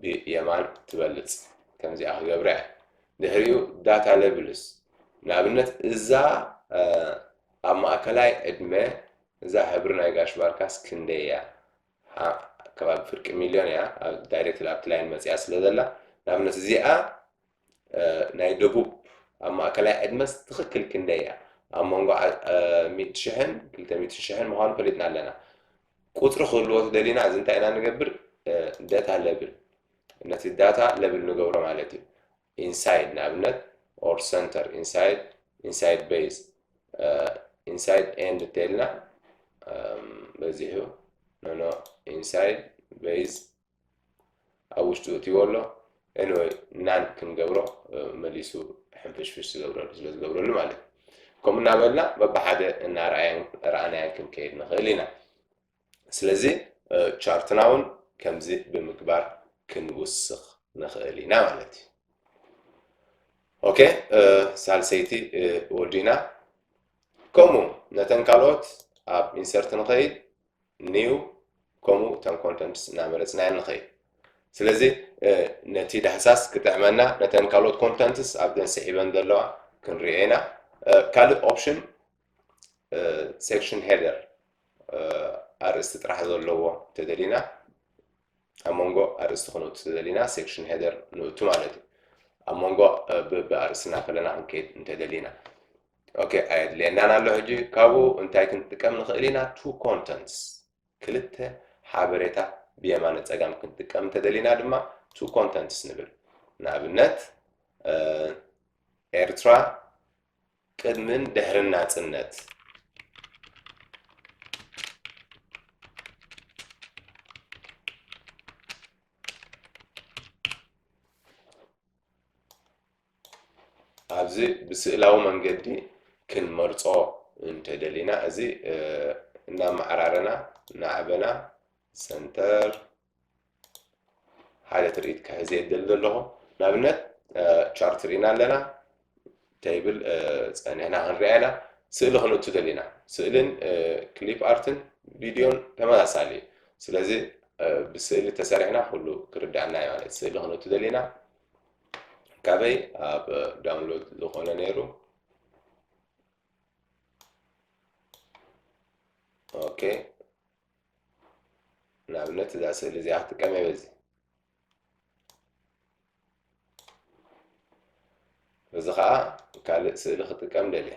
ብየማን ትበልጽ ከምዚኣ ክገብራ እየ ድሕሪኡ ዳታ ለብልስ ንኣብነት እዛ ኣብ ማእከላይ ዕድመ እዛ ሕብሪ ናይ ጋሽ ባርካስ ክንደይ እያ ከባቢ ፍርቂ ሚልዮን እያ ዳይሬክት ኣብቲ ላይን መፅያ ስለ ዘላ ንኣብነት እዚኣ ናይ ደቡብ ኣብ ማእከላይ ዕድመስ ትኽክል ክንደይ እያ? ኣብ መንጎ ሚእቲ ሽሕን ክልተ ሚእትን ሽሕን ምዃኑ ፈሊጥና ኣለና። ቁጽሪ ክህልዎ ተደሊና እዚ እንታይ ኢና ንገብር? ደታ ለብል ነቲ ዳታ ለብል ንገብሮ ማለት እዩ። ኢንሳይድ ንኣብነት ኦር ሰንተር ኢንሳይድ ኢንሳይድ ቤዝ ኢንሳይድ ኤንድ እንተይልና በዚሑ ኖኖ ኢንሳይድ ቤዝ ኣብ ውሽጡ እትይዎ ኣሎ ኤኒወይ ናን ክንገብሮ መሊሱ ሕንፍሽፍሽ ዝገብረሉ ስለ ዝገብረሉ ማለት እዩ ከምኡ እናበልና በብሓደ እናርኣያን ረኣናያን ክንከይድ ንኽእል ኢና ስለዚ ቻርትና እውን ከምዚ ብምግባር ክንውስኽ ንኽእል ኢና ማለት እዩ ኦኬ ሳልሰይቲ ወዲና ከምኡ ነተን ካልኦት ኣብ ኢንሰርት ንኸይድ new ከምኡ concordance እናመረጽና ንኸይድ። ስለዚ ነቲ ዳህሳስ ክጥዕመና ነተን ካልኦት ኮንተንትስ ኣብዘን ስዒበን ዘለዋ ክንሪኦ ኢና ካልእ ኦፕሽን ሴክሽን ሄደር ኣርእስቲ ጥራሕ ዘለዎ እንተደሊና ኣብ መንጎ ኣርእስቲ ክንውፅእ ዘሊና ሴክሽን ሄደር ንእቱ ማለት እዩ ኣብ መንጎ ብኣርእስና ከለና ክንከይድ እንተደሊና ኦኬ ኣየድልየናን ኣሎ ሕጂ ካብኡ እንታይ ክንጥቀም ንኽእል ኢና ቱ ኮንተንትስ ክልተ ሓበሬታ ብየማነ ፀጋም ክንጥቀም እንተደሊና ድማ ቱ ኮንተንትስ ንብል ንኣብነት ኤርትራ ቅድምን ድሕርን ናጽነት። ኣብዚ ብስእላዊ መንገዲ ክንመርጾ እንተደሊና እዚ እናመዓራረና ናዕበና ሰንተር ሓደ ትርኢት ክሕዝ እየ ዝደሊ ዘለኹ ንኣብነት ቻርት ርኢና ኣለና ተይብል ፀኒሕና ክንሪኣ ኢና ስእሊ ክንእቱ ደሊና ስእልን ክሊፕ ኣርትን ቪድዮን ተመሳሳሊ እዩ ስለዚ ብስእሊ ተሰሪሕና ኩሉ ክርዳእና እዩ ማለት ስእሊ ክንእቱ ደሊና ካበይ ኣብ ዳውንሎድ ዝኾነ ነይሩ ኦኬ ንኣብነት እዛ ስእሊ እዚኣ ክጥቀም እየ በዚ እዚ ከዓ ካልእ ስእሊ ክጥቀም ደልየ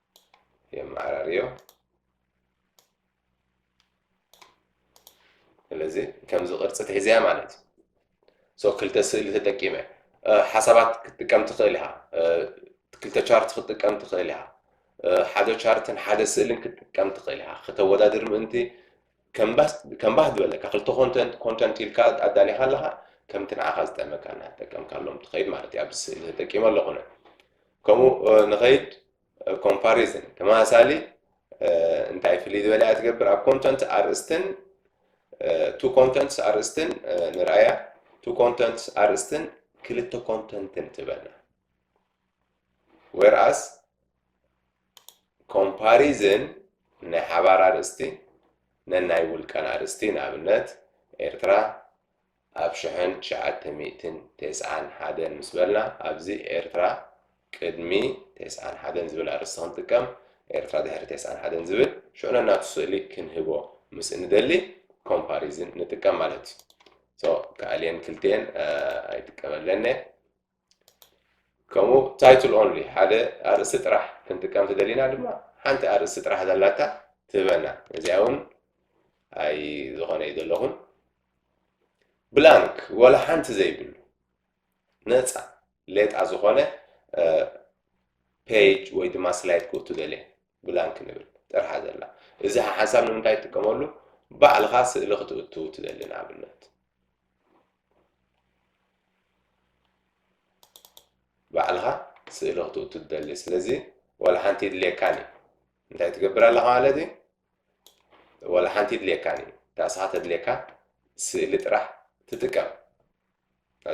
የመዓራርዮ። ስለዚ ከምዚ ቅርፂ ትሕዝያ ማለት እዩ ሶ ክልተ ስእሊ ተጠቂመ ሓሳባት ክትጥቀም ትኽእል ኢኻ ክልተ ቻርት ክትጥቀም ትኽእል ኢኻ ሓደ ቻርትን ሓደ ስእልን ክትጥቀም ትኽእል ኢኻ ከተወዳድር ምእንቲ ከም ባህ ዝበለካ ክልተ ኮንተንት ኮንተንት ኢልካ ኣዳሊኻ ኣለኻ ከምቲ ንዓኻ ዝጠመካ እናተጠቀምካሎም ትኸይድ ማለት እዩ ኣብዚ ስእሊ ተጠቂመ ኣለኹ ከምኡ ንኸይድ ኮምፓሪዝን ተመሳሳሊ እንታይ ፍልይ ዝበለ እያ ትገብር ኣብ ኮንተንት ኣርእስትን ቱ ኮንተንትስ ኣርእስትን ንርኣያ ቱ ኮንተንትስ ኣርእስትን ክልተ ኮንተንትን ትበና ወርኣስ ኮምፓሪዝን ናይ ሓባር ኣርእስቲ ነናይ ውልቀን ኣርእስቲ ንኣብነት ኤርትራ ኣብ ሽሕን ትሽዓተ ሚእትን ቴስዓን ሓደን ምስ በልና ኣብዚ ኤርትራ ቅድሚ ቴስዓን ሓደን ዝብል ኣርእስቲ ክንጥቀም ኤርትራ ድሕሪ ቴስዓን ሓደን ዝብል ሽዑ ነናቱ ስእሊ ክንህቦ ምስ እንደሊ ኮምፓሪዝን ንጥቀም ማለት እዩ ሶ ከኣልየን ክልቲኤን ኣይጥቀመለነ ከምኡ ታይትል ኦንሊ ሓደ ኣርእስቲ ጥራሕ ክንጥቀም ትደሊና ድማ ሓንቲ ኣርእስቲ ጥራሕ ዘላታ ትህበና እዚኣ እውን ኣይ ዝኾነ እዩ ዘለኹን ብላንክ ወላ ሓንቲ ዘይብሉ ነፃ ሌጣ ዝኾነ ፔጅ ወይ ድማ ስላይድ ክእቱ ደልየ ብላንክ ንብል ጥርሓ ዘላ እዚ ሓሳብ ንምንታይ ትጥቀመሉ ባዕልኻ ስእሊ ክትእቱ ትደሊ ንኣብነት ባዕልኻ ስእሊ ክትኡ ትደሊ ስለዚ ዋላ ሓንቲ የድልየካን እዩ እንታይ ትገብር ኣለኻ ማለት እዩ ዋላ ሓንቲ የድልየካን እዩ እታ እስኻ ተድልየካ ስእሊ ጥራሕ ትጥቀም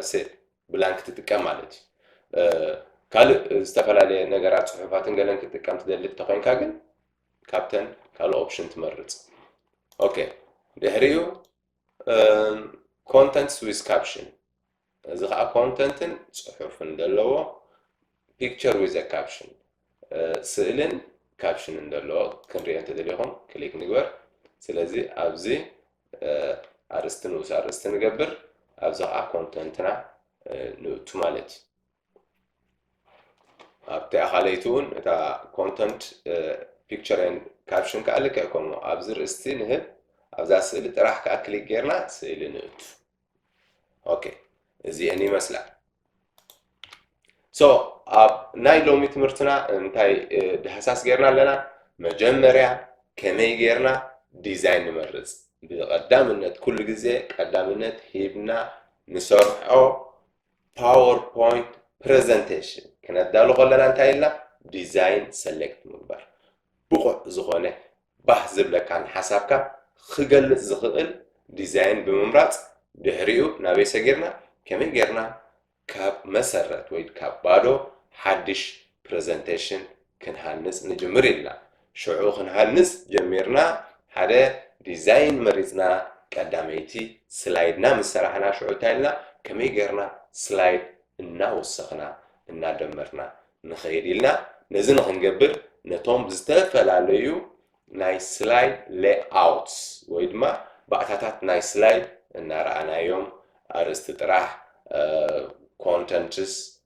ስእሊ ብላንክ ትጥቀም ማለት እዩ ካልእ ዝተፈላለየ ነገራት ፅሑፋትን ገለን ክትጥቀም ትደሊ እንተኮይንካ ግን ካብተን ካልእ ኦፕሽን ትመርፅ ኦኬ ድሕሪኡ ኮንተንትስ ዊዝ ካፕሽን እዚ ከዓ ኮንተንትን ፅሑፍን ዘለዎ ፒክቸር ዊዘ ካፕሽን ስእልን ካፕሽንን ዘለዎ ክንሪኦ እንተደሊኹም ክሊክ ንግበር ስለዚ ኣብዚ ኣርእስቲ ንኡስ ኣርእስቲ ንገብር ኣብዚ ከዓ ኮንተንትና ንእቱ ማለት እዩ ኣብቲ ኣኻለይቲ እውን እታ ኮንተንት ፒክቸር ን ካፕሽን ከዓ ልክዕ ከምኡ ኣብዚ ርእስቲ ንህብ ኣብዛ ስእሊ ጥራሕ ከዓ ክሊክ ጌርና ስእሊ ንእቱ ኦኬ እዚአን ይመስላ ሶ ኣብ ናይ ሎሚ ትምህርትና እንታይ ዳህሳስ ጌርና ኣለና መጀመርያ ከመይ ጌርና ዲዛይን ንመርፅ ብቐዳምነት ኩሉ ግዜ ቀዳምነት ሂብና ንሰርሖ ፓወርፖይንት ፕረዘንቴሽን ክነዳሉ ከለና እንታይ ኢልና ዲዛይን ሰሌክት ምግባር ብቑዕ ዝኾነ ባህ ዝብለካን ሓሳብካ ክገልፅ ዝኽእል ዲዛይን ብምምራፅ ድሕሪኡ ናበይ ሰጊርና ከመይ ጌርና ካብ መሰረት ወይ ካብ ባዶ ሓድሽ ፕረዘንቴሽን ክንሃንፅ ንጅምር ኢልና ሽዑ ክንሃንጽ ጀሚርና ሓደ ዲዛይን መሪጽና ቀዳመይቲ ስላይድና ምስ ሰራሕና ሽዑ እንታይ ኢልና ከመይ ጌርና ስላይድ እናወሰኽና እናደመርና ንኸይድ ኢልና ነዚ ንኽንገብር ነቶም ዝተፈላለዩ ናይ ስላይድ ሌኣውትስ ወይ ድማ ባእታታት ናይ ስላይድ እናረኣናዮም ኣርእስቲ ጥራሕ ኮንተንትስ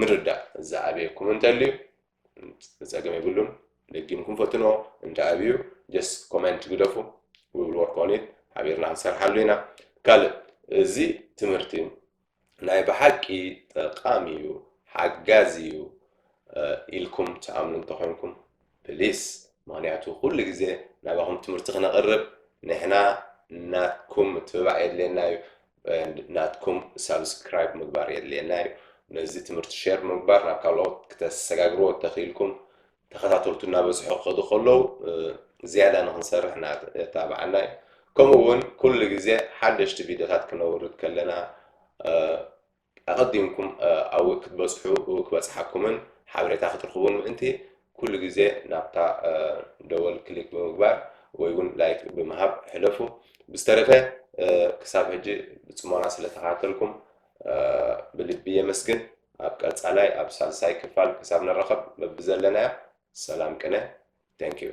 ምርዳእ ዝኣበየኩም እንተልዩ ጸገም የብሉን ደጊምኩም ፈትንዎ እንተ ኣብዩ ጀስት ኮመንት ግደፉ ውብል ወርክ ኦን ኢት ሓቢርና ክንሰርሓሉ ኢና ካልእ እዚ ትምህርቲ ናይ ብሓቂ ጠቃሚ እዩ ሓጋዚ እዩ ኢልኩም ትኣምኑ እንተኮይንኩም ፕሊስ ምክንያቱ ኩሉ ግዜ ናባኩም ትምህርቲ ክነቅርብ ንሕና ናትኩም ምትብባዕ የድልየና እዩ ናትኩም ሳብስክራይብ ምግባር የድልየና እዩ ነዚ ትምህርቲ ሸር ምግባር ናብ ካልኦት ክተሰጋግርዎ ተኽኢልኩም ተኸታተልቱ እናበዝሑ ክኸዱ ከለዉ ዝያዳ ንክንሰርሕ እናተባዓና እዩ ከምኡ እውን ኩሉ ግዜ ሓደሽቲ ቪድዮታት ክነውርድ ከለና ኣቐዲምኩም ኣብኡ ክትበጽሑ ክበጽሓኩምን ሓበሬታ ክትርኽቡን ምእንቲ፣ ኩሉ ግዜ ናብታ ደወል ክሊክ ብምግባር ወይ ውን ላይክ ብምሃብ ሕለፉ። ብዝተረፈ ክሳብ ሕጂ ብጽሞና ስለ ተኸታተልኩም ብልቢ የመስግን። ኣብ ቀጻላይ ኣብ ሳልሳይ ክፋል ክሳብ ንራኸብ በብዘለናዮ ሰላም ቅነ። Thank you።